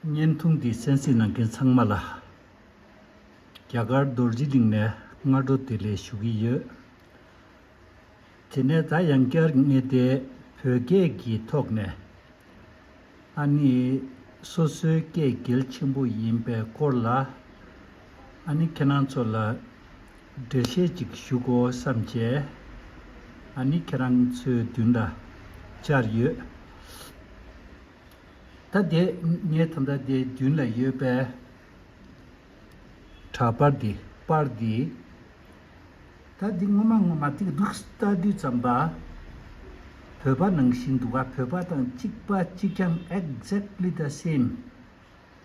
བརྙན་ཐུང་འདི་གསན་གཟིགས་གནང་མཁན་ཚང་མ་ལ། རྒྱ་གར་རྡོ་རྗེ་གླིང་ནས་སྔ་དྲོ་བདེ་ལེགས་ཞུ་གི་ཡོད། དེ་ནས་ད་ཡང་བསྐྱར་ངེས་ཏེ་བོད་སྐད་ཀྱི་ཐོག་ནས། ཨ་ནི། སོ་སོའི་སྐད་གལ་ཆེན་པོ་ཡིན་པའི་སྐོར་ལ། ཨ་ནི་ཁྱེད་རང་ཚོ་ལ་འགྲེལ་བཤད་ཅིག་ཞུ་དགོས་བསམ་བྱས། ཨ་ནི་ཁྱེད་རང་ཚོའི་མདུན་ལ་བཅར་ཡོད། ད་ལྟའི་ངའི་ཐ་མདའ་དེ་མདུན་ལ་ཡོད་པས། གྲྭ་པར་འདི་པར་འདི། ད་འདི་ངོ་མ་ངོ་མ་ཏིག་སྡུག་རྟ་རྡུལ་ཙམ་པ། བོད་པ་ནང་བཞིན་འདུག་ག་བོད་པ་དང་གཅིག་པ་གཅིག་རྐྱང exactly the same།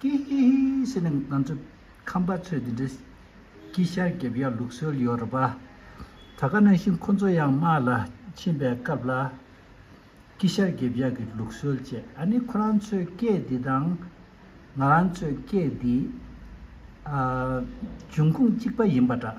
ཀི་ཧི་ཧི་ཟེར་ནས་ང་ཚོ་ཁམས་པ་ཚོས་འདི་འདྲའི་ཀི་ཤར་བརྒྱབ་ཡ་ལུགས་སྲོལ་ཡོད་རེད་པ། ད་ག་ནང་བཞིན་ཁོ་ཚོ་ཡང་དམག་ལ་ཕྱིན་པའི་སྐབས་ལ་ཀི་ཤར་བརྒྱབ་ཡ་གི་ལུགས་སྲོལ་བཅས་ཨ་ནི་ཁོ་རང་ཚོའི་སྐད་འདི་དང། ང་རང་ཚོའི་སྐད་འདི། འབྱུང་ཁུངས་གཅིག་པ་ཡིན་པ་འདྲ།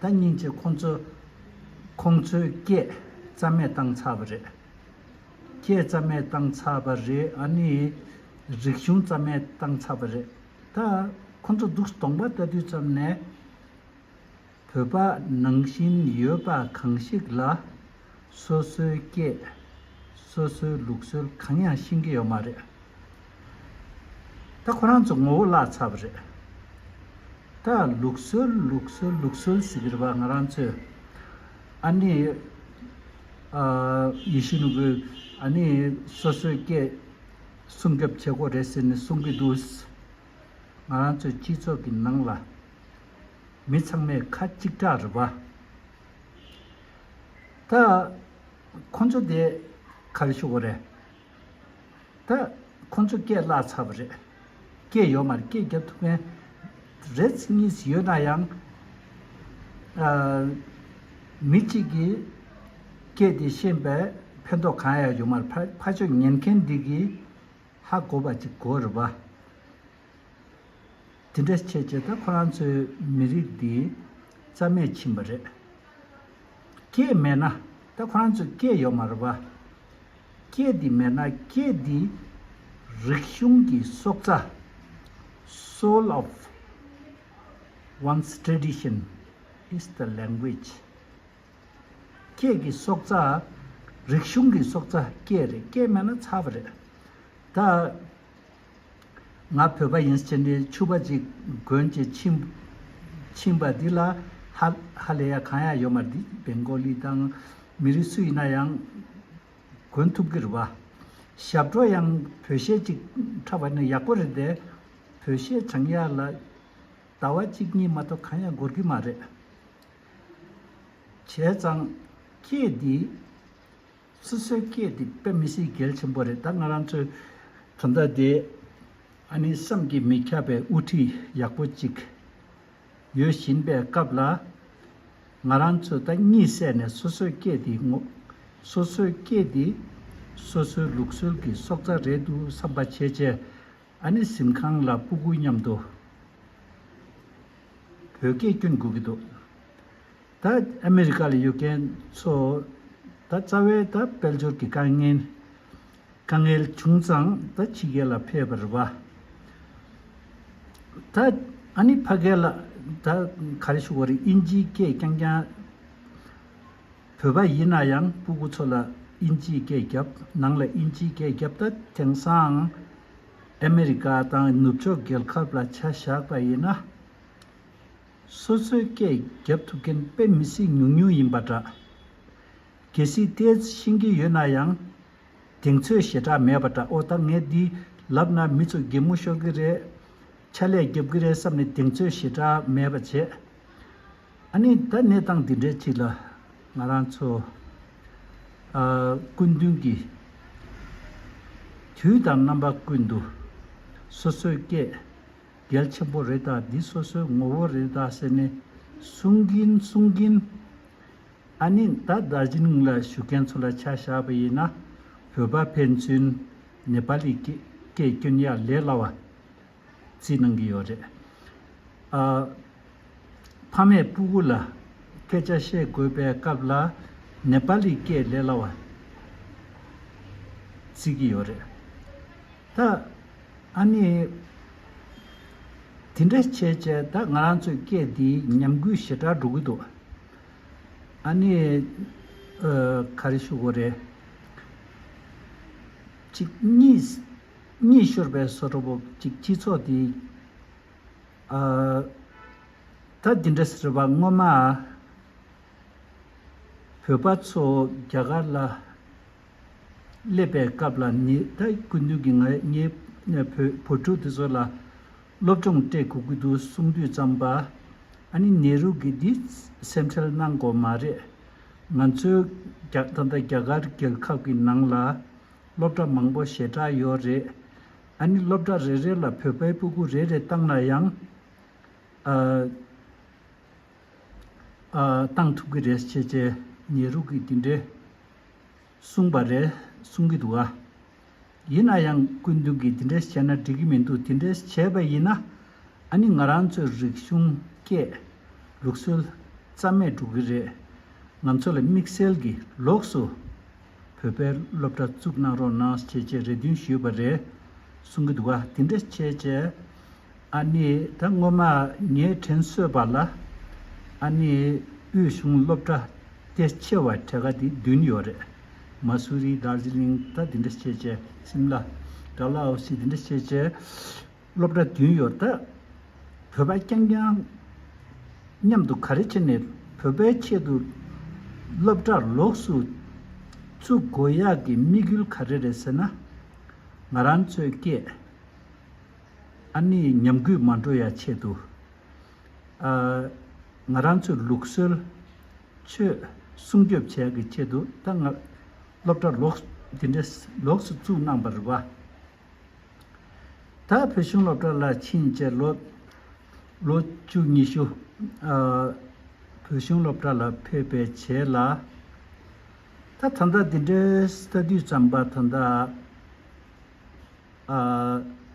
ད་སྙིང་རྗེ་ཁོང་ཚོས་ཁོང་ཚོའི་སྐད་རྩ་མེད་བཏང་ཚར་བ་རེད། སྐད་རྩ་མེད་བཏང་ཚར་བ་རེད་ཨ་ནི། རིག་གཞུང་རྩ་མེད་བཏང་ཚར་བ་རེད། ད་ཁོང་ཚོ་སྡུག་གདོང་པ་ལྟ་དུས་ཙམ་ནས། བོད་པ་ནང་བཞིན་ཡོད་པ་གང་ཞིག་ལ། སོ་སོའི་སྐད། སོ་སོའི་ལུགས་སྲོལ་གང་ཡང་ཤེས་ཀྱི་ཡོད་མ་རེད། ད་ཁོ་རང་ཚོ་ངོ་བོ་བརླག་ཚར་བ་རེད། ད་ལུགས་སྲོལ་ལུགས་སྲོལ་ལུགས་སྲོལ་ཟེར་གྱི་རེད་པ་ང་རང་ཚོས། ཨ་ནི། ཡེ་ཤེས་ནོར་བུས་ཨ་ནི་སོ་སོའི་སྐད། སྲུང་སྐྱོབ་བྱེད་དགོས་རེད་ཟེར་ནས་གསུང་གི་འདུག། ང་རང་ཚོའི་སྤྱི་ཚོགས་ཀྱི་ནང་ལ། མི་ཚང་མས་ཁ་གཅིག་གྲགས་རེད་པ། ད། ཁོ་ཚོ་དེ་ག་རེ་ཞུ་གི་རེད། ད། ཁོ་ཚོ་སྐད་བརླག་ཚར་བ་རེད། སྐད་ཡོད་མ་རེད་སྐད་རྒྱབ་ཐུབ་མཁན་རེད་གཉིས་ཡོད་ན་ཡང། མི་གཅིག་གིས་སྐད་དེ་ཤེས་པའི་ཕན་ཐོགས་གང་ཡང་ཡོད་མ་རེད་ཕ་ཕ་ཆོས་ཉན་མཁན་འདི་གིས་ཧ་གོ་བ་ཅིག་གོ་རེད་བ། དེ་འདྲ་བྱས་བྱས་ད་ཁོ་རང་ཚོའི་མི་རིགས་འདི་རྩ་མེད་ཕྱིན་པ་རེད། སྐད་མེད་ན་ད་ཁོ་རང་ཚོ་སྐད་ཡོད་མ་རེད་པ། སྐད་འདི་མེད་ན་སྐད་འདི་རིག་གཞུང་གི་སྲོག་རྩ། Soul of one's tradition is the language། སྐད་ཀྱི་སྲོག་རྩ། རིག་གཞུང་གི་སྲོག་རྩ་སྐད་རེད་སྐད་མེད་ན་ཚར་བ་རེད། ད་ང་བོད་པ་ཡིན་ཕྱི་འབྲེལ་ཕྱུག་པ་ཅིག་དགོན་གྱི་ཕྱིན་པ་འདི་ལ་ཧ་ལས་ཡ་གང་ཡང་ཡོད་མ་རེད་བན་གོ་ལི་དང་མི་རིགས་སུ་ཡིན་ན་ཡང་དགོན་ཐུབ་གི་རེད་བ། ཞབས་བྲོ་ཡང་བོད་གཞས་ཅིག་འཁྲབ་པ་ནི་ཡག་པོ་རེད་དེ། བོད་གཞས་བྱང་ཡ་ལ་ཟླ་བ་གཅིག་གཉིས་མ་གཏོགས་གང་ཡང་འགོར་གི་མ་རེད། བྱས་ཙང་ཁྱེད་འདིས་སོ་སོའི་སྐད་དེ་དཔེ་མི་སྲིད་གལ་ཆེན་པོ་རེད་ད་ང་རང་ཚོའི་གང་ཟག་དེ་ཨ་ནི་བསམ་གྱིས་མི་ཁྱབ་པའི་དབུ་ཁྲིད་ཡག་པོ་ཅིག་ཡོད་བཞིན་པའི་སྐབས་ལ། ང་རང་ཚོས་ད་གཉིད་སད་ནས་སོ་སོའི་སྐད་དེ་ངོ། སོ་སོའི་སྐད་དེ་སོ་སོའི་ལུགས་སྲོལ་གྱི་སྲོག་རྩ་རེད་འདུག་བསམ་པ་བྱས་བྱས་ཨ་ནི་གཟིམ་ཁང་ལ་སྤུ་གུ་མཉམ་དུ་བོད་སྐད་སྐྱོན་དགོས་ཀྱི་འདུག། ད་ཨ་མི་རི་ཀ་ལ་ཡོད་མཁན་ཚོ་ད་རྩ་བའི་ད་དཔལ་འབྱོར་གྱི་དཀའ་ངལ་དཀའ་ངལ་བྱུང་ཙང་ད་ཕྱི་རྒྱལ་ལ་ཕེབས་པར་རེ་བ། ད་ཨ་ནི་ཕ་སྐད་ལ་ད་ག་རེ་ཞུ་བར་དབྱིན་ཇིའི་སྐད་རྐྱང་རྐྱང། བོད་པ་ཡིན་ན་ཡང་སྤུ་གུ་ཚོ་ལ་དབྱིན་ཇིའི་སྐད་རྒྱབ་ནང་ལ་དབྱིན་ཇིའི་སྐད་རྒྱབ་ད་དེང་སང་ཨ་མི་རི་ཀ་དང་ནུབ་ཕྱོགས་རྒྱལ་ཁབ་ལ་ཆ་བཞག་པ་ཡིན་ན། སོ་སོའི་སྐད་བརྒྱབ་ཐུབ་མཁན་དཔེ་མི་སྲིད་ཉུང་ཉུང་ཡིན་པ་འདྲ། གལ་སྲིད་དེས་ཤེས་ཀྱི་ཡོད་ན་ཡང། དེང་ཚོས་ཞེ་དྲག་མེད་པ་འདྲ་ཨོ་ད་ངས་འདི་ལབ་ན་མི་ཚོ་སྒེག་མོ་ཤོར་གི་རེད། ཆ་ལས་རྒྱབ་གི་རེད་བསམ་ནས་དེང་ཚོས་ཞེ་དྲག་མེད་པ་བྱས། ཨ་ནི་ད་གནས་སྟངས་འདི་འདྲའི་ཐིག་ལ། ང་རང་ཚོ། ཨ། སྐུ་མདུན་གྱི། དུས་དང་རྣམ་པ་བརྐུས་འདུག། སོ་སོའི་སྐད། གལ་ཆེན་པོ་རེད་ད་འདི་སོ་སོའི་ངོ་བོ་རེད་ད་ཟེར་ནས་གསུང་གིན་གསུང་གིན། ཨ་ནི་ད་རྡ་རྗི་ལིང་ལ་བཞུགས་མཁན་ཚོ་ལ་ཆ་བཞག་པ་ཡིན་ན་བོད་པ་ཕན་ཚུན་ནེ་པ་ལི་སྐད་སྐྱོན་ཡག་ལས་སླ་བ་རྩིས་གནང་གི་ཡོད་རེད། ཨ་ཕ་མས་སྤུ་གུ་ལ་སྐད་ཆ་བཤད་དགོས་པའི་སྐབས་ལ་ནེ་པ་ལི་སྐད་ལས་སླ་བ་རྩིས་གི་ཡོད་རེད། ད་ཨ་ནི། དེ་འདྲ་བྱས་བྱས་ད་ང་རང་ཚོའི་སྐད་འདིའི་ཉམས་རྒུད་ཞེ་དྲག་འགྲོ་གི་འདུག་ཨ་ནི། ག་རེ་ཞུ་དགོས་རེད། གཅིག་གཉིས་ཤོར་པའི་སོ་ཁྲོ་བོ་གཅིག་སྤྱི་ཚོགས་འདི། ད་འདི་འདྲ་ཟེར་བ་སྔོན་མ། བོད་པ་ཚོ་རྒྱ་གར་ལ། སླེབས་པའི་སྐབས་ལ་ནི་ད་སྐུ་མདུན་གྱི་ང་རྙེད་བུ་བུ་ཕྲུག་དེ་ཚོ་ལ། སློབ་སྦྱོང་སྤྲད་གུ་གུ་དུ་གསུང་དུས་ཙམ་པ། ཨ་ནི་ནེ་རུ་གིས་འདི་སེམས་ཁྲལ་གནང་དགོས་མ་རེད། ང་ཚོའི་ད་ལྟ་རྒྱ་གར་རྒྱལ་ཁབ་ཀྱི་ནང་ལ་སློབ་གྲྭ་མང་པོ་ཞེ་དྲག་ཡོད་རེད། ཨ་ནི་སློབ་གྲྭ་རེ་རེ་ལ་བོད་པའི་སྤུ་གུ་རེ་རེ་བཏང་ན་ཡང། བཏང་ཐུབ་ཀྱི་རེད་ཅེས་ནེ་རུ་གིས་དེ་འདྲའི། གསུངས་པ་རེད་གསུང་གི་འདུག་ཨ། ཡིན་ན་ཡང་སྐུ་མདུན་གྱིས་དེ་འདྲས་བྱས་ན་འགྲིག་གི་མི་འདུག་དེ་འདྲས་བྱས་པ་ཡིན་ན་ཨ་ནི་ང་རང་ཚོའི་རིག་གཞུང་སྐད། ལུགས་སྲོལ། རྩ་མེད་འགྲོ་གི་རེད། ང་ཚོ་ལ་དམིགས་བསལ་གྱི་ལོགས་སུ། བོད་པའི་སློབ་གྲྭ་བཙུགས་གནང་རོགས་གནང་བྱས་བྱས་རེ་འདུན་ཞུས་པ་རེད་གསུང་གི་འདུག་ཨ་དེ་འདྲས་བྱས་བྱས། ཨ་ནི་ད་སྔོན་མ་ངའི་དྲིན་གསོས་པ་ལ། ཨ་ནི་དབུས་གཞུང་སློབ་གྲྭ་དེ་ཆེ་བ་གྲལ་ཁ་དེ་བདུན་ཡོད་རེད། མ་སུ་རི་དར་ཟི་ལིང་ད་དེ་འདྲ་བྱེད་བྱེད་སིམ་ལ་དར་ལ་ཨོ་སི་དེ་འདྲ་བྱེད་བྱེད། སློབ་གྲྭ་བདུན་ཡོད་ད། བོད་པ་རྐྱང་རྐྱང་མཉམ་དུ་ག་རེ་བྱེད་ནས་བོད་པའི་ཆེད་དུ་སློབ་གྲྭ་ལོགས་སུ་བཙུགས་དགོས་ཡག་གི་དམིགས་ཡུལ་ག་རེ་རེད་ཟེར་ན། ང་རང་ཚོའི་སྐད། ཨ་ནི་ཉམས་རྒུད་མ་འགྲོ་ཡ་ཆེད་དུ། ཨ། ང་རང་ཚོའི་ལུགས་སྲོལ། ཆོས། སྲུང་སྐྱོབ་བྱས་ཀྱི་ཆེད་དུ་ད་ང། སློབ་གྲྭ་ལོགས། འདི་འདྲ། ལོགས་སུ་བཙུགས་གནང་བར་བ། ད་བོད་གཞུང་སློབ་གྲྭ་ལ་ཕྱིན་རྗེས་ལོ། ལོ་བཅུ་གཉིས་ཤུ། ཨ། བོད་གཞུང་སློབ་གྲྭ་ལ་ཕེབས་པའི་བྱས་ལ། ད་ད་ལྟ་འདི་འདྲའི་ས་དུས་ཙམ་པ་ད་ད།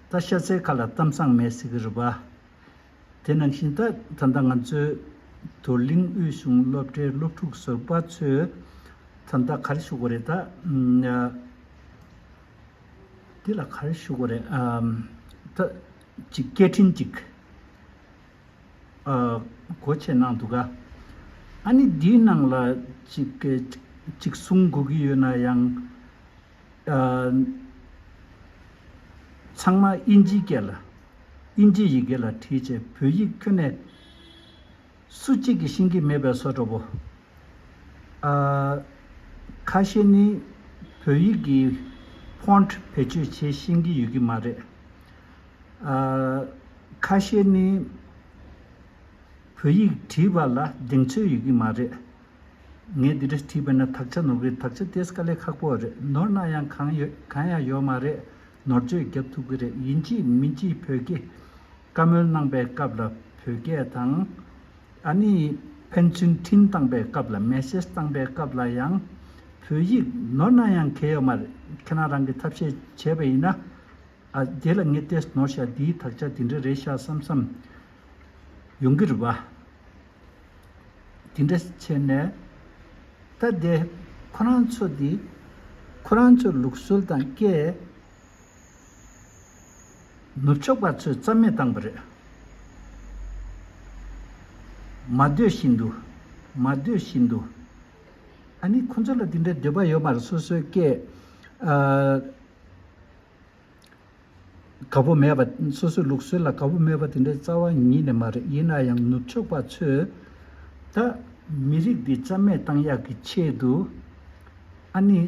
ད་ཤ་ཚའི་ཁ་ལ་གཏམ་བཟང་མེད་ཟེར་གི་རེད་པ། དེ་ནང་བཞིན་ད་ད་ལྟ་ང་ཚོའི་དུ་གླིང་དབུས་གཞུང་སློབ་གྲྭའི་སློབ་ཕྲུག་བཟོ་པ་ཚོས་ད་ལྟ་གར་ཞུགས་པ་རེད་ད། འདི་ལ་གར་ཞུགས་པ་རེད་ད། ཅིག་སྐད་འཕྲིན་ཅིག་གོ་ཆེད་གནང་འདུག་ག། ཨ་ནི་འདིའི་ནང་ལ་ཅིག་གསུང་དགོས་ཀྱི་ཡོད་ན་ཡང། ཚང་མ་དབྱིན་ཇིའི་སྐད་ལ། དབྱིན་ཇིའི་ཡི་གེ་ལ་བྲིས་བྱས་བོད་ཡིག་ཁྱོན་ནས། སུ་གཅིག་གིས་ཤེས་ཀྱི་མེད་པའི་སོ་དྲོ་པོ། ཨ། ཁ་ཤས་ནི་བོད་ཡིག་གི Font བེད་སྤྱོད་བྱེད་ཤེས་ཀྱི་ཡོད་ཀྱི་མ་རེད། ཨ། ཁ་ཤས་ནི་བོད་ཡིག་བྲིས་པ་ལ་གདེང་ཚོད་ཡོད་ཀྱི་མ་རེད། ངས་འདི་འདྲ་བྲིས་པ་ན་དག་ཆ་ནོར་གི་དག་ཆ་དེ་སྐ་ལས་ཁག་པོ་རེད་ནོར་ན་ཡང་གང་ཡོད་གང་ཡང་ཡོད་མ་རེད་ནོར་བཅོས་བརྒྱབ་ཐུབ་གི་རེད་ཡིན་གཅིག་མིན་གཅིག་བོད་སྐད་བཀའ་མོལ་གནང་པའི་སྐབས་ལ་བོད་སྐད་དང། ཨ་ནི་ཕན་ཚུན་འཕྲིན་བཏང་པའི་སྐབས་ལ Message བཏང་པའི་སྐབས་ལ་ཡང་བོད་ཡིག་ནོར་ན་ཡང་གལ་ཡོད་མ་རེད་ཁྱེད་རང་རང་གི་ཐབས་ཤེས་བྱས་པ་ཡིན་ན་ཨ་དེ་ལ་ངས་ཏེས་ནོར་ཤག་འདིའི་དག་ཆ་དེ་འདྲ་རེད་ཤག་བསམ་བསམ་ཡོང་གི་རེད་བ། དེ་འདྲ་བྱས་ནས། ད་དེ་ཁོ་རང་ཚོ་འདི། ཁོ་རང་ཚོའི་ལུགས་སྲོལ་དང་སྐད། ནུབ་ཕྱོགས་པ་ཚོས་རྩ་མེད་བཏང་པ་རེད། མ་འདོད་བཞིན་དུ། མ་འདོད་བཞིན་དུ། ཨ་ནི་ཁོ་ཚོ་ལ་དེ་འདྲའི་འདོད་པ་ཡོད་མ་རེད་སོ་སོའི་སྐད། དགའ་པོ་མེད་པ། སོ་སོའི་ལུགས་སྲོལ་ལ་དགའ་པོ་མེད་པ་དེ་འདྲའི་རྩ་བ་ཉིད་ནས་མ་རེད་ཡིན་ན་ཡང་ནུབ་ཕྱོགས་པ་ཚོས། ད། མི་རིགས་འདི་རྩ་མེད་བཏང་ཡག་གི་ཆེད་དུ། ཨཱ་ནི།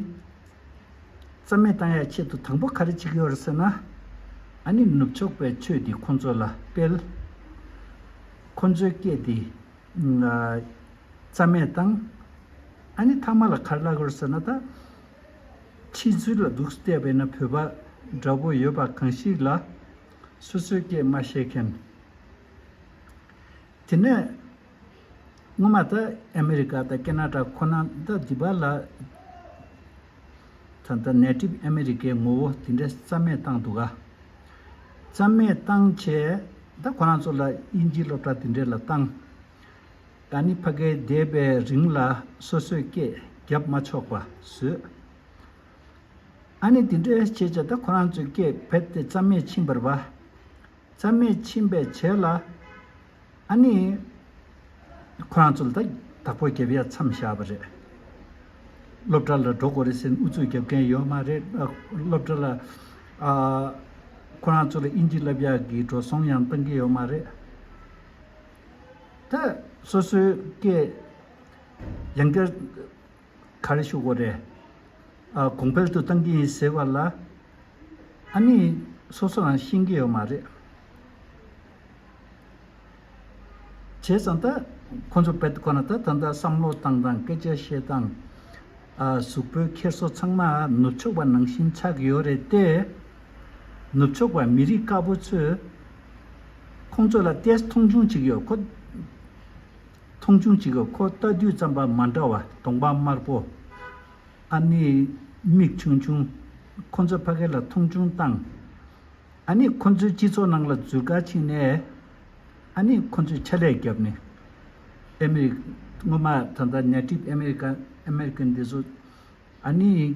རྩ་མེད་བཏང་ཡག་ཆེད་དུ་དང་པོ་ག་རེ་བྱེད་ཀྱི་ཡོད་རེད་ཟེར་ན། ཨཱ་ནི་ནུབ་ཕྱོགས་པའི་ཆོས་འདི་ཁོ་ཚོ་ལ་སྤེལ། ཁོ་ཚོའི་སྐད་དེ། རྩ་མེད་བཏང། ཨཱ་ནི་ཐ་མ་ལ་ག་རེ་བསླག་གི་ཡོད་རེད་ཟེར་ན་ད། ཁྲིད་ཚུལ་ལ་སྡུག་སྐད་བས་ན་བོད་པ་འདྲ་པོ་ཡོད་པ་གང་ཞིག་ལ། སོ་སོའི་སྐད་སྨྲ་ཤེས་མཁན། དེ་ནས། སྔོན་མ་ད་ཨ་མི་རི་ཀ་དང་ཀེ་ན་ཏྲ་ཁོ་ན་ད་འདི་པ་ལ། ད་ལྟ་ནད་གྲིབ་ཨ་མི་རི་ཀའི་ངོ་བོ་དེ་འདྲའི་རྩ་མེད་བཏང་འདུག་ག། རྩ་མེད་བཏང་བྱས་ད་ཁོ་རང་ཚོ་ལ་དབྱིན་ཇིའི་སློབ་གྲྭ་དེ་འདྲའི་ལ་བཏང། ད་ནི་བྷ་གའི་འདས་པའི་རིང་ལ་སོ་སོས་སྐད་བརྒྱབ་མ་ཆོག་པ་བཟོས། ཨ་ནེ་དེ་འདྲའི་བྱེད་བྱ་ད་ཁོ་རང་ཚོས་སྐད་བད་དེ་རྩམ་མེད་ཕྱིན་པར་བ། རྩམ་མེད་ཕྱིན་པའི་བྱད་ལ། ཨ་ནེ། ཁོ་རང་ཚོ་ལ་ད་བདག་པོ་བརྒྱབ་ཡ་མཚམས་བཞག་པ་རེད། སློབ་གྲྭ་ལ་འགྲོ་དགོས་རེད་ཟེར་ནས་ཨུ་ཚུགས་བརྒྱབ་མཁན་ཡོད་མ་རེད། སློབ་གྲྭ་ལ། ཨ། ཁོ་རང་ཚོ་ལ་དབྱིན་ཇི་བསླབ་ཡག་གི་འགྲོ་སོང་ཡང་གཏང་གི་ཡོད་མ་རེད། ད་སོ་སོའི་སྐད་ཡང་བསྐྱར་ག་རེ་ཞུ་དགོས་རེད། ཨ་གོང་འཕེལ་དུ་བཏང་གི་ཡིན་ཟེར་བ་ལ་ཨ་ནི་སོ་སོ་རང་ཤེས་ཀྱི་ཡོད་མ་རེད། བྱས་ཙང་ད་ཁོང་ཚོ་བལ་དུ་ཁོ་ན་ད་ད་ལྟ་བསམ་བློ་བཏང་དང་སྐད་ཆ་བཤད་དང་གཟུགས་པོའི་འཁྱེར་སོ་ཚང་མ་ནུབ་ཕྱོགས་པ་ནང་བཞིན་ཆགས་ཀྱི་ཡོད་རེད་དེ། ནུབ་ཕྱོགས་པ་མི་རིགས་དཀར་པོ་ཚོས། ཁོང་ཚོ་ལ་ཏེས་མཐོང་ཆུང་བྱེད་ཀྱི་ཡོད་ཁོ། མཐོང་ཆུང་བྱེད་ཀྱི་ཁོ་ལྟ་དུས་རྩམ་པ་མ་འདྲ་བ་གདོང་པ་དམར་པོ། ཨ་ནེ་མིག་ཆུང་ཆུང། ཁོ་ཚོས་ཕ་གི་ལ་མཐོང་ཆུང་བཏང། ཨ་ནེ་ཁོ་ཚོའི་སྤྱི་ཚོགས་ནང་ལ་འཛུལ་དཀའ་ཕྱིན་ནས། ཨ་ནེ་ཁོ་ཚོས་ཕྱག་ལས་བརྒྱབ་ནས། ཨ་མེ་རི་ཀ། སྔོན་མ་ད་ལྟ་ཉག་ཁྲིད་ཨ་མེ་རི་ཀ། American། དེ་ཚོ། ཨ་ནེ།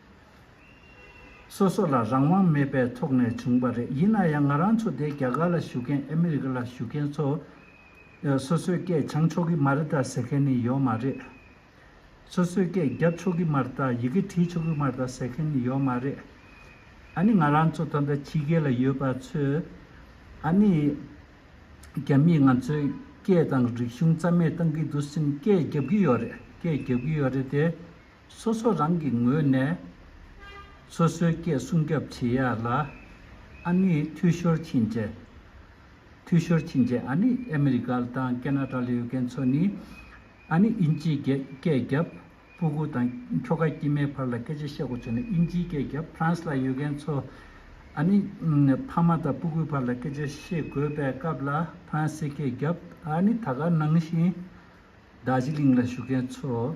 སོ་སོ་ལ་རང་དབང་མེད་པའི་ཐོག་ནས་བྱུང་བ་རེད་ཡིན་ན་ཡང་ང་རང་ཚོ་དེ་རྒྱ་གར་ལ་བཞུགས་མཁན་ཨ་མི་རི་ཀ་ལ་བཞུགས་མཁན་ཚོ། སོ་སོའི་སྐད་སྦྱང་ཆོག་གི་མ་རེད་ད་ཟེར་མཁན་ནི་ཡོད་མ་རེད། སོ་སོའི་སྐད་རྒྱབ་ཆོག་གི་མ་རེད་ད་ཡི་གེ་བྲིས་ཆོག་གི་མ་རེད་ད་ཟེར་མཁན་ནི་ཡོད་མ་རེད། ཨ་ནི་ང་རང་ཚོ་ད་ལྟ་ཕྱི་རྒྱལ་ལ་ཡོད་པ་ཚོས་ཨ་ནི་རྒྱ་མིས་ང་ཚོའི་སྐད་དང་རིག་གཞུང་རྩ་མེད་གཏང་གི་འདུག་སེམས་སྐད་རྒྱབ་ཀྱི་ཡོད་རེད་སྐད་རྒྱབ་ཀྱི་ཡོད་རེད་དེ། སོ་སོ་རང་གི་ངོས་ནས་སོ་སོའི་སྐད་སྲུང་སྐྱོབ་བྱེད་ཡ་ལ། ཨ་ནི་འཐུས་ཤོར་ཕྱིན་རྗེས། འཐུས་ཤོར་ཕྱིན་རྗེས་ཨ་ནི་ཨ་མི་རི་ཀ་དང་ཀེ་ན་ཏྲ་ལ་ཡོད་མཁན་ཚོ་ནི། ཨ་ནི་དབྱིན་ཇིའི་སྐད་སྐད་རྒྱབ་སྤུ་གུ་དང་ཁྱོ་ག་དཀྱིལ་མའི་བར་ལ་སྐད་ཆ་བཤད་གོ་ཚོད་ནི་དབྱིན་ཇིའི་སྐད་རྒྱབ་ཕ་རན་ས་ལ་ཡོད་མཁན་ཚོ། ཨ་ནི་ཕ་མ་དང་སྤུ་གུའི་བར་ལ་སྐད་ཆ་བཤད་དགོས་པའི་སྐབས་ལ་ཕ་རན་སའི་སྐད་རྒྱབ་ཨ་ནི་ད་ག་ནང་བཞིན་རྡ་ཇི་ལིང་ལ་བཞུགས་མཁན་ཚོ།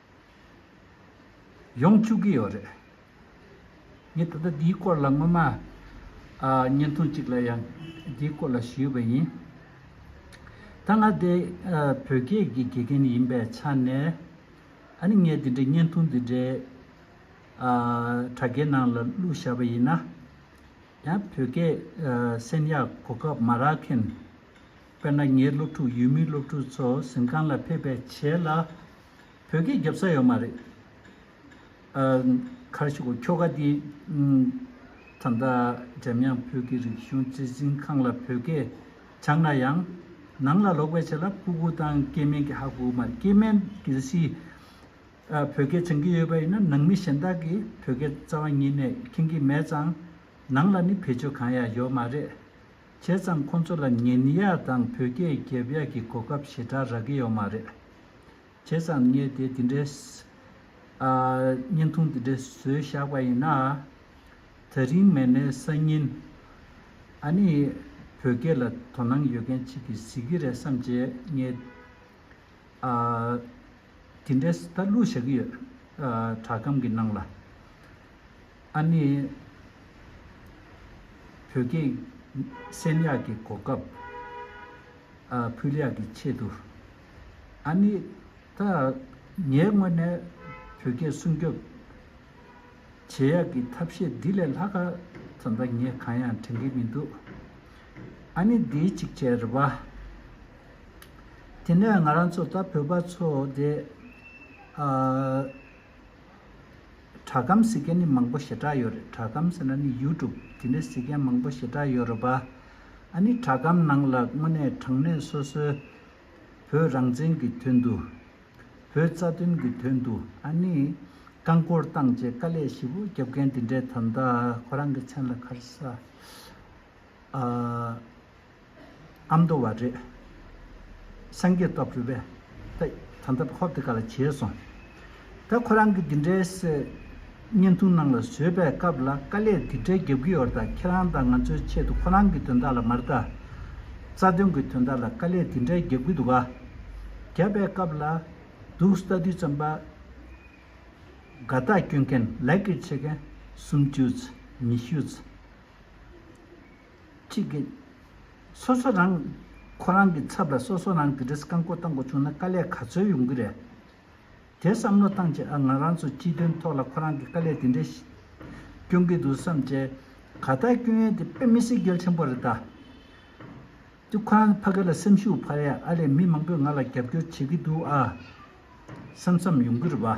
ཡོང་བཅུག་གི་ཡོད་རེད། ངས་ད་ལྟ་འདིའི་སྐོར་ལ་སྔོན་མ། བརྙན་ཐུང་གཅིག་ལ་ཡང་འདིའི་སྐོར་ལ་ཞུས་པ་ཡིན། ད་ང་དེ་བོད་སྐད་ཀྱི་དགེ་རྒན་ཡིན་པའི་ཆ་ནས། ཨ་ནི་ངས་འདི་འདྲའི་བརྙན་ཐུང་འདི་འདྲའི། དྲ་རྒྱའི་ནང་ལ་བླུགས་བཞག་པ་ཡིན་ན། ཡང་བོད་སྐད་གསན་ཡག་གོ་སྐབས་མ་རག་མཁན། དཔེར་ན་ངའི་སློབ་ཕྲུག་ཡུལ་མིའི་སློབ་ཕྲུག་ཚོ་གཟིམ་ཁང་ལ་ཕེབས་པའི་བྱེད་ལ། བོད་སྐད་རྒྱབ་ས་ཡོད་མ་རེད། ཁར་ཤུག་གོ་ཁྱོ་ག་འདི། ད་ལྟ་འཇམ་དབྱངས་བོད་ཀྱི་རིག་གཞུང་གཙོས་གཟིམ་ཁང་ལ་བོད་སྐད་སྦྱངས་ན་ཡང། ནང་ལ་ལོག་པའི་བྱེད་ལ་སྤུ་གུ་དང་སྐྱེས་སྨན་གྱི་ཧ་གོ་མ་རེད་སྐྱེས་སྨན་གལ་སྲིད། བོད་སྐད་སྦྱང་གི་ཡོད་པ་ཡིན་ན་ནང་མི་གཞན་དག་གིས་བོད་སྐད་རྩ་བ་ཉིད་ནས་མཁྱེན་གྱི་མེད་ཙང། ནང་ལ་ནི་བེད་སྤྱོད་གང་ཡང་ཡོད་མ་རེད། བྱས་ཙང་ཁོང་ཚོ་ལ་ཉན་ཡག་དང་བོད་སྐད་རྒྱབ་ཡག་གི་གོ་སྐབས་ཞེ་དྲག་རག་གི་ཡོག་མ་རེད། བྱས་ཙང་བརྙས་དེ་དེ་འདྲའི་བརྙན་ཐུང་དེ་འདྲའི་བཟོས་བཞག་པ་ཡིན་ན། ད་རིང་མེད་ནའི་སང་ཉིན་ཨ་ནི་བོད་སྐད་ལ་དོ་སྣང་ཡོད་མཁན་ཅིག་གིས་གཟིགས་ཀྱི་རེད་བསམ་བྱས་བརྙས་དེ་འདྲའི་ད་བླུགས་བཞག་གི་ཡོད་དྲ་སྒམ་གི་ནང་ལ། ཨ་ནེ། བོད་སྐད་སེམས་ཡག་གི་གོ་སྐབས་ཕུལ་ཡག་གི་ཆེད་དུ། ཨ་ནེ། ད་ངས་དངོས་གནས་བོད་སྐད་སྲུང་སྐྱོབ་བྱེད་ཡག་གི་ཐབས་ཤེས་འདི་ལས་ལྷག་ཙམ་ད་ངས་གང་ཡང་དྲན་གི་མི་འདུག་ཨ་ནེ། འདི་གཅིག་བྱས་རེད་པ། དེ་ནས་ང་རང་ཚོ་ད་བོད་པ་ཚོ་དེ། དྲ་ཁམས་ཟེར་མཁན་ནི་མང་པོ་ཞེ་དྲག་ཡོད་རེད་དྲ་ཁམས་ཟེར་ན་ནི་ཡུ་ཀྲུབ་དེ་འདྲ་ཟེར་མཁན་མང་པོ་ཞེ་དྲག་ཡོད་རེད་བ། ཨ་ནི་དྲ་ཁམས་ནང་ལ་དངོས་གནས་དྲང་གནས་སོ་སོའི་བོད་རང་བཙན་གྱི་དོན་དུ། བོད་རྩ་དོན་གྱི་དོན་དུ་ཨ་ནི་རྐང་འཁོར་བཏང་རྗེས་དཀའ་ལས་ཞིབ་པོ་རྒྱབ་མཁན་དེ་འདྲའི་དམ་དག་ཁོ་རང་གི་མཚན་ལ་ཁར་ས། ཨ་ཨ་མདོ་བ་རེད། སངས་རྒྱས་རྟོགས་གྲོལ་བས། ད་ད་ད་ཧོབ་དེ་ག་ལ་བྱས་སོང། ད་ཁོ་རང་གི་འདི་འདྲའི་བརྙན་ཐུང་ནང་ལ་བཟོས་པའི་སྐབས་ལ་དཀའ་ལས་འདི་འདྲའི་རྒྱབ་ཀྱི་ཡོད་ད་ཁྱེད་རང་དང་ང་ཚོའི་ཆེད་དུ་ཁོ་རང་གི་དོན་དག་ལ་མར་ད། རྩ་དོན་གྱི་དོན་དག་ལ་དཀའ་ལས་འདི་འདྲའི་རྒྱབ་ཀྱི་འདུག་ག། རྒྱབ་པའི་སྐབས་ལ། འདུག་ལྟ་དུས་ཙམ་པ། དགའ་རྟགས་སྐྱོན་མཁན་ལེགས་ཀྱི་བྱེད་མཁན་སུམ་བཅུ། ཉི་ཤུ། གཅིག་གིས། སོ་སོ་རང། ཁོ་རང་གི་ཚབ་ལ་སོ་སོ་རང་དེ་འདྲས་རྐང་འཁོར་བཏང་དགོས་བྱུང་ན་དཀའ་ལས་ག་ཚོད་ཡོང་གི་རེད། དེ་བསམ་བློ་བཏང་རྗེས་ཨ་ང་རང་ཚོ་སྤྱི་དོན་ཐོག་ལ་ཁོ་རང་གི་དཀའ་ལས་དེ་འདྲས་སྐྱོན་གི་འདུག་བསམ་རྗེས། ག་ལྟར་སྐྱོན་ཡོན་དེ་དཔེ་མི་སྲིད་གལ་ཆེན་པོ་རེད་ད། དུས་ཁོ་རང་ཕ་གི་ལ་སེམས་ཤུགས་འཕར་ཡ་ཨ་ལས་མི་མང་པོས་ང་ལ་རྒྱབ་སྐྱོར་བྱེད་ཀྱི་འདུག་ཨ། བསམ་བསམ་ཡོང་གི་རེད་བ།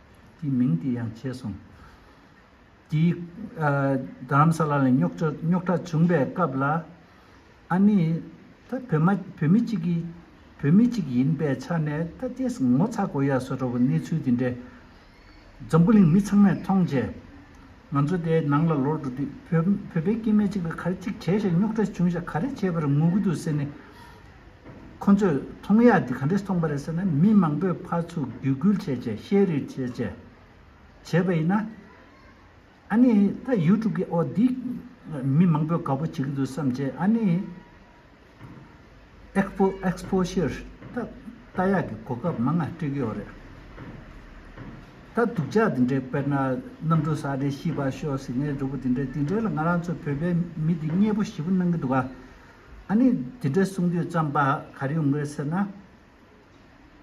དེའི་མིང་དེ་ཡང་བྱས་སོང། དེའི་རྡ་རམ་ས་ལ་ལ་རྙོག་གྲ་བྱུང་པའི་སྐབས་ལ། ཨ་ནི་ད་བོད་མ་བོད་མི་གཅིག་གིས་བོད་མི་གཅིག་ཡིན་པའི་ཆ་ནས་ད་རྗེས་ངོ་ཚ་དགོས་ཡ་བཟོ་འགྲོ་བ་གནས་ཚུལ་དེ་འདྲའི། འཛམ་བུ་གླིང་མི་ཚང་མས་མཐོང་རྗེས། ང་ཚོ་དེའི་ནང་ལ་ལོག་འགྲོ་དུས་བོད་པའི་སྐྱེས་མ་གཅིག་ལ་ག་རེ་གཅིག་བྱས་ཤག་རྙོག་གྲ་བྱུང་ཤག་ག་རེ་བྱས་པར་ངུ་གི་འདུག་ཟེར་ནས། ཁོ་ཚོས་མཐོང་ཡག་འདི་ག་འདྲས་སྟོང་པ་རེད་ཟེར་ནས་མི་མང་པོས་ཕར་ཚུར་འགྱུར་འགུལ་བྱས་བྱས་བཤད་རུས་བྱས་བྱས། བྱས་པ་ཡིན་ན། ཨཱ་ནི། ད་ཡུ་ཀྲུབ་ཀྱི་འོག་འདི། མི་མང་པོས་དགའ་པོ་བྱེད་ཀྱི་འདུག་བསམ་བྱས་ཨཱ་ནི། Exposure། ད་རྟ་ཡག་གི་གོ་སྐབས་མང་ང་སྤྲད་ཀྱི་ཡོད་རེད། ད་སྡུག་ཅག་འདི་འདྲས་དཔེར་ན། གནམ་གྲུ་ས་འདྲས་ཤི་བར་ཤོག་ཟིག་ངའི་གྲོགས་པོ་འདི་འདྲས་འདི་འདྲས་ལ་ང་རང་ཚོའི་བོད་པའི་མི་འདི་མཉེས་པོ་ཞེ་པོ་གནང་གི་འདུག་ག། ཨ་ནི་དེ་འདྲ་གསུང་དུས་རྩམ་པ་གར་ཡོང་གི་རེད་ཟེར་ན།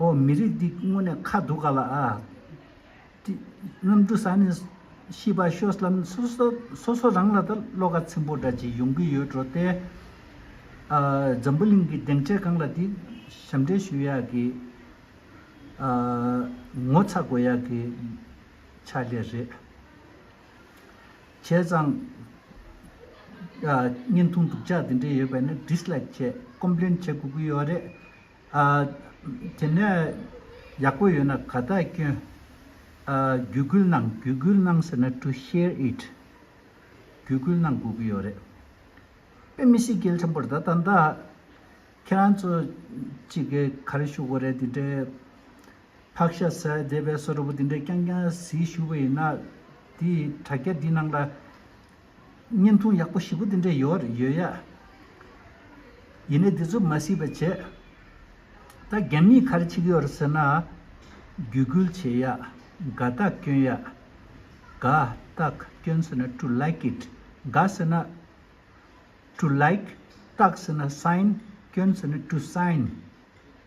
ཨོ་མི་རིགས་འདི་དངོས་ནས་ཁ་སྡུག་ག་ལ་ཨ། གནམ་གྲུ་ཟ་ནི་ཤི་བ་ཤོས་ལ་སོ་སོ་རང་ལ་ད་བློ་ཁ་ཚིམ་པོ་འདྲ་ཅིག་ཡོང་གི་ཡོད་འགྲོ་སྟེ། འཛམ་བུ་གླིང་གི་གདེང་འཕྲལ་སྒང་ལ་དེ་ཞབས་འདྲེན་ཞུ་ཡག་གི། ངོ་ཚ་དགོས་ཡག་གི་ཆ་ལེ་རེད། བྱས་ཙང། བརྙན་ཐུང་སྡུག་ཅག་འདི་འདྲའི་ཡོད་པས་ནི Dislike བྱས Complain བྱེད་དགོས་ཀྱི་ཡོད་རེད། དེ་ནས་ཡག་པོ་ཡོད་ན་ག་དག་སྐྱོན། བརྒྱུད་སྐུལ་གནང་བརྒྱུད་སྐུལ་གནང་ཟེར་ན To share it བརྒྱུད་སྐུལ་གནང་དགོས་ཀྱི་ཡོད་རེད། དཔེ་མི་སྲིད་སྐལ་ཆེན་པོར་ད་ད་ཁྱེད་རང་ཚོ་གཅིག་གིས་ག་རེ་ཞུ་དགོས་རེད་འདི་འདྲའི་ཕག་ཤ་ཟས་བསྡད་པའི་སོ་ར་བུ་དེ་འདྲས་རྐྱང་རྐྱང་བཟི་བཞུགས་པ་ཡིན་ན། དེའི་དྲ་རྒྱ་འདི་ནང་ལ། བརྙན་ཐུང་ཡག་པོ་བཞི་པོ་དེ་འདྲས་ཡོད་ཡོད་ཡ། ཡིན་ནས་འདི་ཚོ་མ་སྲིད་པ་བྱས། ད་རྒན་མིས་གར་ཆིག་ཡོད་ཟེར་ན། རྒྱུད་སྐུལ་བྱེད་ཡ། དགའ་རྟགས་སྐྱོན་ཡ། དགའ་རྟགས་སྐྱོན་ཟེར་ན to like it དགའ་ཟེར་ན། to like རྟགས་ཟེར་ན sign སྐྱོན་ཟེར་ན to sign།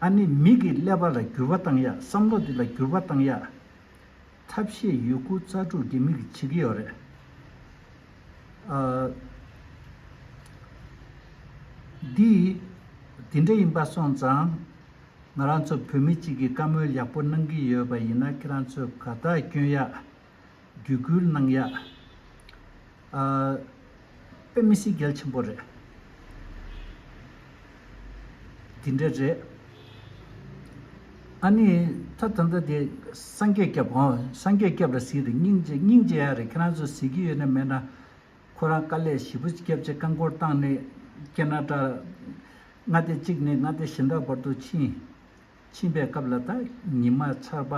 ཨ་ནི་མིག་གི་ཀླད་པ་ལ་འགྱུར་བ་བཏང་ཡག་བསམ་བློ་འདི་ལ་འགྱུར་བ་བཏང་ཡག། ཐབས་ཤེས་ཡོད་དགུ་རྩ་དྲུག་འདི་མིག་གི་བྱེད་ཀྱི་ཡོད་རེད། འདི་དེ་འདྲ་ཡིན་པ་སོང་ཙང་ང་རང་ཚོ་བོད་མི་གཅིག་གི་བཀའ་མོལ་ཡག་པོ་གནང་གི་ཡོད་པ་ཡིན་ན་ཁྱེད་རང་ཚོས་ག་དག་སྐྱོན་ཡག་བརྒྱུད་བསྐུལ་གནང་ཡག། དཔེ་མི་སྲིད་གལ་ཆེན་པོ་རེད། འདི་འདྲ་རེད། ཨཱ་ནི། ད་ད་ལྟ་དེ་སངས་རྒྱས་སྐྱབས། ཨོ། སངས་རྒྱས་སྐྱབས་ལ་གཟིགས་རེད་སྙིང་རྗེ་སྙིང་རྗེ་ཡག་རེད་ཁྱེད་རང་ཚོ་གཟིགས་ཀྱི་ཡོད་ན་མེད་ན། ཁོ་རང་དཀའ་ལས་ཞིབ་པོ་སྐྱབས་རྗེ་བཀའ་འཁོར་བཏང་ནས་སྐྱེ་ན་སྐྲག། མངའ་སྡེ་གཅིག་ནས་མངའ་སྡེ་གཞན་དག་བར་དུ་ཕྱིན། ཕྱིན་པའི་སྐབས་ལ་དྭགས་ཉི་མ་འཆར་པ་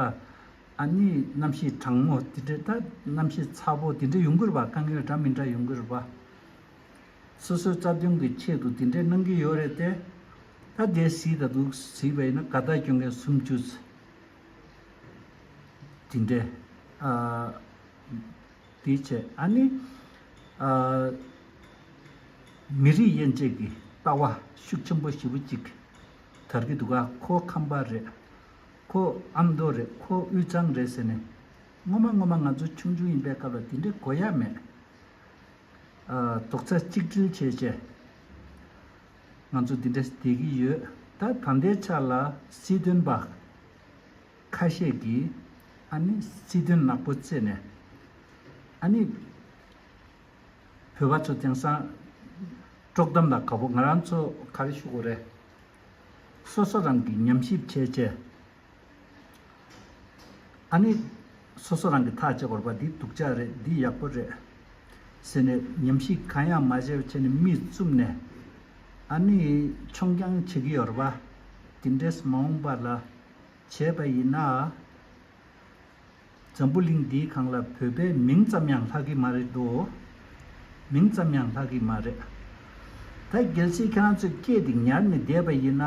ཨ་ནི་གནམ་གཤིས་གྲང་མོ་དེ་འདྲའི་དྭགས་གནམ་གཤིས་ཚ་པོ་དེ་འདྲའི་ཡོང་གི་རེད་པ་དཀའ་ངལ་འདྲ་མི་འདྲ་ཡོང་གི་རེད་པ། སོ་སོའི་རྩ་དོན་གི་ཆེད་དུ་དེ་འདྲའི་གནང་གི་ཡོད་རེད་དེ། ད་གལ་སྲིད་ད་དུག་སྲིད་པ་ཡིན་ན་ག་ད་གྱོན་མཁན་སུམ་ཅུ་ཚེ་དེ་འདྲའི་ཨ། དེའི་ཆེད་ཨ་ནི་ཨ། མི་རིགས་དབྱེ་འབྱེད་ཀྱི་ལྟ་བ་ཤུགས་ཆེན་པོ་ཞེ་བོ་གཅིག། དར་གི་འདུག་ག་ཁོ་ཁམས་པ་རེད། ཁོ་ཨ་མདོ་རེད་ཁོ་དབུས་གཙང་རེད་ཟེར་ནས། སྔོན་མ་སྔོན་མ་ང་ཚོ་ཆུང་ཆུང་ཡིན་པའི་སྐབས་ལ་དེ་འདྲའི་གོ་ཡ་མེད། རྡོག་རྩ་གཅིག་སྒྲིལ་བྱས་བྱས། ང་ཚོ་འདི་འདྲ་བསྡད་ཀྱི་ཡོད། ད་ད་ལྟའི་ཆ་ལ་སྲིད་དོན་པ་ཁ་ཤས་ཀྱིས་ཨ་ནི་སྲིད་དོན་ནག་པོ་བརྩད་ནས། ཨ་ནི། བོད་པ་ཚོ་དེང་སང་དཀྲོག་གཏམ་ལ་དགའ་པོ་ང་རང་ཚོ་ག་རེ་ཞུ་གོ་རེད། སོ་སོ་རང་གིས་ཉམས་ཞིབ་བྱས་བྱས། ཨ་ནི་སོ་སོ་རང་གིས་ཐག་བཅད་དགོས་པ་འདི་སྡུག་ཅག་རེད་འདི་ཡག་པོ་རེད། ཟེར་ནས་ཉམས་ཞིབ་གང་ཡང་མ་བྱས་བྱས་ནས་མིས་བཙུམ་ནས་ཨ་ནི་མཆོང་རྐྱང་བྱེད་ཀྱི་ཡོད་རེད་པ། དེ་འདྲས་མ་འོངས་པ་ལ་བྱས་པ་ཡིན་ན། འཛམ་བུ་གླིང་འདིའི་གང་ལ་བོད་པའི་མིང་ཙམ་ཡང་ལྷག་གི་མ་རེད་དོ། མིང་ཙམ་ཡང་ལྷག་གི་མ་རེད། ད་གལ་སྲིད་ཁྱེད་རང་ཚོས་སྐད་དེ་ཉར་ནས་བསྡད་པ་ཡིན་ན།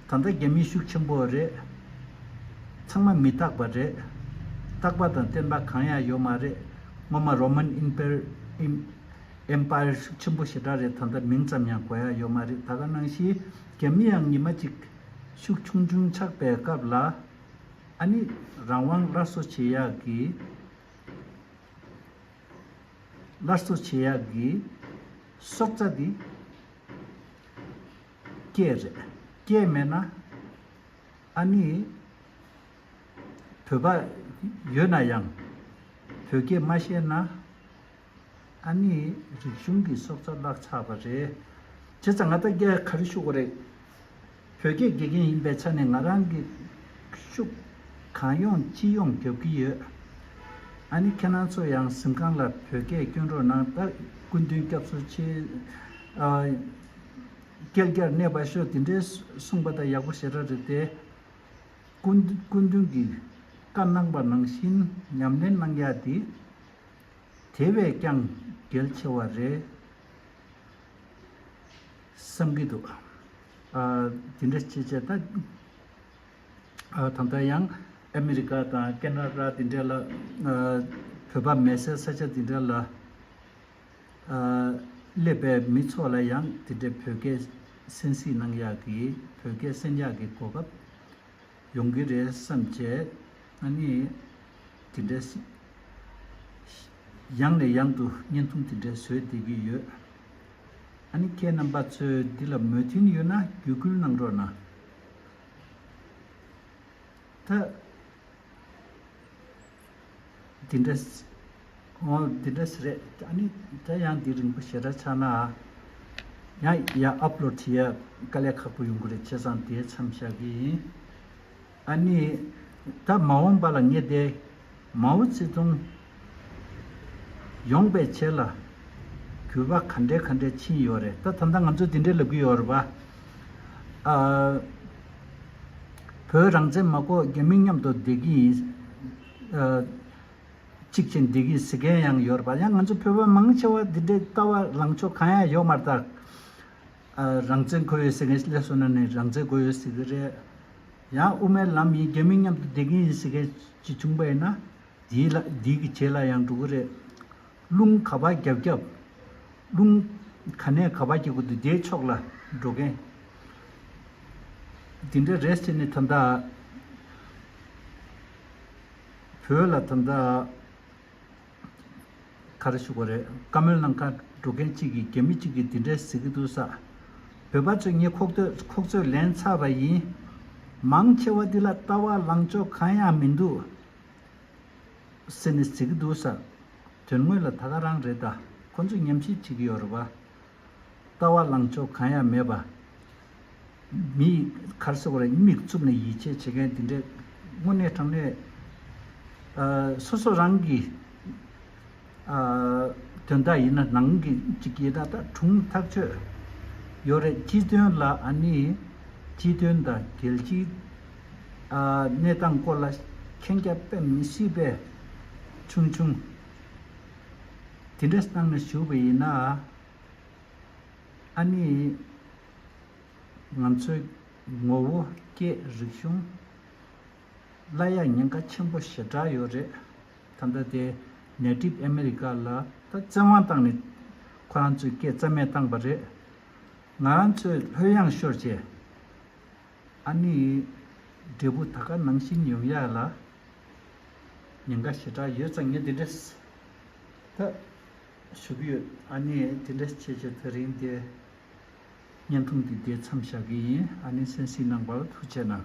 ད་ལྟ་རྒྱ་མི་ཤུགས་ཆེན་པོ་རེད། ཚང་མ་མི་རྟག་པ་རེད། རྟག་པ་དང་བརྟན་པ་གང་ཡང་ཡོད་མ་རེད། སྔོན་མ Roman Empire ཤུགས་ཆེན་པོ་ཞེ་དྲག་རེད་ད་ལྟ་མིང་ཙམ་ཡང་གོ་ཡ་ཡོད་མ་རེད་ད་ག་ནང་བཞིན་རྒྱ་མི་ཡང་ཉི་མ་གཅིག་ཤུགས་ཆུང་ཆུང་ཆགས་པའི་སྐབས་ལ། ཨ་ནི་རང་དབང་སླར་གསོ་བྱེད་ཡག་གི། སླར་གསོ་བྱེད་ཡག་གི། སྲོག་རྩ་འདི། སྐྱེས་རེད། སྐྱེས་མེད་ན། ཨ་ནི། བོད་པ། ཡོད་ན་ཡང། བོད་སྐད་མ་ཤེས་ན། ཨ་ནི་རིག་གཞུང་གི་སྲོག་རྩ་བརླག་ཚར་བ་རེད། བྱས་ཙང་ང་ད་རྒྱ་གར་བཞུགས་པ་རེད། བོད་སྐད་དགེ་རྒན་ཡིན་པའི་ཆ་ནས་ང་རང་གི་ཤུགས་གང་ཡོང་ཅི་ཡོང་རྒྱོབ་ཀྱི་ཡོད། ཨ་ནི་ཁྱེད་རང་ཚོ་ཡང་གཟིམ་ཁང་ལ་བོད་སྐད་བསྐྱོན་རོགས་གནང་ད་སྐུ་མདུན་སྐྱབས་སུ་མཆི། སྐལ་བརྒྱར་གནས་པ་ཤོག་དེ་འདྲའི་གསུངས་པ་ད་ཡག་པོ་ཞེ་དྲག་རེད་དེ། སྐུ་མདུན་གྱི་བཀའ་གནང་པ་ནང་བཞིན་ཉམས་ལེན་གནང་ཡག་དེ། དེ་བས་ཀྱང་གལ་ཆེ་བ་རེད་བསམ་གྱི་འདུག་དེ་འདྲ་བྱེད་ཆེད་ད་ལྟ་ཡང་ཨ་མི་རི་ཀ་དང་ཀེ་ན་ར་དེ་འདྲ་ལ་བོད་པ་མེད་སའི་ས་ཆ་དེ་འདྲ་ལ་སླེབས་པའི་མི་ཚོ་ལ་ཡང་དེ་འདྲའི་བོད་སྐད་གསན་སྲིད་གནང་ཡག་གི་བོད་སྐད་གསན་ཡག་གི་གོ་སྐབས་ཡོང་གི་རེད་བསམ་བྱས། ང་ནི། དེ་འདྲའི། ཡང་ནས་ཡང་དུ་བརྙན་ཐུང་དེ་འདྲས་བཟོས་བསྡད་ཀྱི་ཡོད། ཨ་ནི་ཁྱེད་རྣམ་པ་ཚོས་འདི་ལ་མོས་མཐུན་ཡོད་ན་བརྒྱུད་སྐུལ་གནང་རོགས་གནང། ད། འདི་འདྲ། ཨོ། འདི་འདྲ་ཞིག་རེད། ཨ་ནི། དེ་ཡང་འདི་རིང་པོ་ཞེ་དྲག་ཆགས་ན། ཡང་ཡང་ཨབ་ལོ་བྲི་ཡ་དཀའ་ལས་ཁག་པོ་ཡོང་གི་རེད་ཁྱེད་ཚང་དེའི་མཚམས་བཞག་གི་ཡིན། ཨ་ནི། ད་མ་འོངས་པ་ལ་ངེས་ཏེ། མའོ་ཙི་ཏུང། ཡོངས་པའི་ཆེད་ལ། གུས་པ་ག་འདྲའི་ག་འདྲའི་ཕྱིན་ཡོད་རེད་ད་ད་ལྟ་ང་ཚོས་འདི་འདྲའི་ལབ་གི་ཡོད་རེད་པ། ཨ། བོད་རང་བཙན་མ་བཀོག་རྒྱ་མི་མཉམ་དུ་བསྡད་ཀྱི་ཡིན། གཅིག་བྱས་འདི་གི་ཟི་གན་ཡང་ཡོད་པ་ཡང་ང་ཚོ་བོད་པ་མང་ཆེ་བ་འདི་འདྲའི་ལྟ་བ་ལངས་ཕྱོགས་གང་ཡང་ཡོད་མ་རྟགས། རང་བཙན་དགོས་ཡོད་ཟེར་མཁན་ལས་སོ་ན་ནས་རང་བཙན་དགོས་ཡོད་ཟེར་གི་རེད། ཡང་དབུ་མའི་ལམ་ཡིན་རྒྱ་མི་མཉམ་དུ་བསྡད་ཀྱི་ཡིན་ཟེར་མཁན་གཅིག་བྱུང་པ་ཡིན་ན། དེའི་ལ་དེའི་གི་བྱེད་ལ་ཡང་འགྲོ་གི་རེད། རླུང་ག་བ་རྒྱབ་རྒྱབ། རླུང། ག་ནས་ག་བ་གྱི་སྒོ་དུ་བརྒྱད་ཕྱོགས་ལ་འགྲོ་མཁན། འདི་འདྲ་རེས་བྱས་ནས་ད་ལྟ། བོད་ལ་ད་ལྟ། ག་རེ་བཞུགས་པ་རེད་བཀའ་མོལ་གནང་ཁ་འགྲོ་མཁན་གཅིག་གིས་རྒྱ་མི་གཅིག་གིས་འདི་འདྲས་ཟེར་གྱི་འདུག་ས། བོད་པ་ཚོས་ངའི་ཁོག་སྟོད་ཁོག་ཚོད་ལེན་ཚར་བ་ཡིན། མང་ཆེ་བ་འདི་ལ་ལྟ་བ་ལངས་ཕྱོགས་གང་ཡང་མི་འདུག། སེ་ནི་ཟེར་གི་འདུག་ཟེར། དོན་དངོས་ལ་ད་ག་རང་རེད་ད་ཁོ་ཚོས་ཉམས་ཞིབ་བྱེད་ཀྱི་ཡོད་རེད་བ། ལྟ་བ་ལངས་ཕྱོགས་གང་ཡང་མེད་པ། མི་ཡི་ཁར་སོ་རེ་མིག་བཙུམ་ནས་ཡིད་ཆེས་བྱེད་མཁན་དེ་འདྲས་དངོས་གནས་དྲང་གནས། སོ་སོ་རང་གིས། དོན་དག་ཡིན་ན་ནང་གི་གཅིག་གིས་ད་ལྟ་གྲུང་ཐག་ཆོད་ཡོད་རེད་སྤྱི་དོན་ལ་ཨ་ནི་སྤྱི་དོན་དང་རྒྱལ་སྤྱིའི་གནས་སྟངས་སྐོར་ལ་མཁྱེན་རྒྱ་དཔེ་མི་སྲིད་པས་ཆུང་ཆུང་དེ་འདྲ་གནང་ནས་ཞུ་བ་ཡིན་ན་ཨ་ནི་ང་ཚོའི་ངོ་བོ་སྐད་རིག་གཞུང་ལ་ཡང་ཉེན་ཁ་ཆེན་པོ་ཞེ་དྲག་ཡོད་རེད། ད་ལྟ་དེ་ནད་གྲིབ་ཨ་མེ་རི་ཀ་ལ་ད་བཙན་དབང་བཏང་ནས་ཁོ་རང་ཚོས་སྐད་རྩ་མེད་བཏང་པ་རེད། ང་རང་ཚོས་ལྷོད་ཡངས་ཤོར་རྗེས། ཨ་ནེ་ཡིས་འབྲས་བུ་ད་ག་ནང་བཞིན་ཡོང་ཡག་ལ། ཉེན་ཁ་ཞེ་དྲག་ཡོད་ཙང་ངས་དེ་འདྲས་ད་ཞུ་གི་ཡོད། ཨ་ནེ་དེ་འདྲས་བྱས་བྱས་ཚེ་རིང་དེ་བརྙན་ཐུང་འདི་བསྡད་མཚམས་བཞག་གི་ཡིན་ཨ་ནེ་སེམས་གསིང་གནང་བར་ཐུགས་ཆེ་གནང།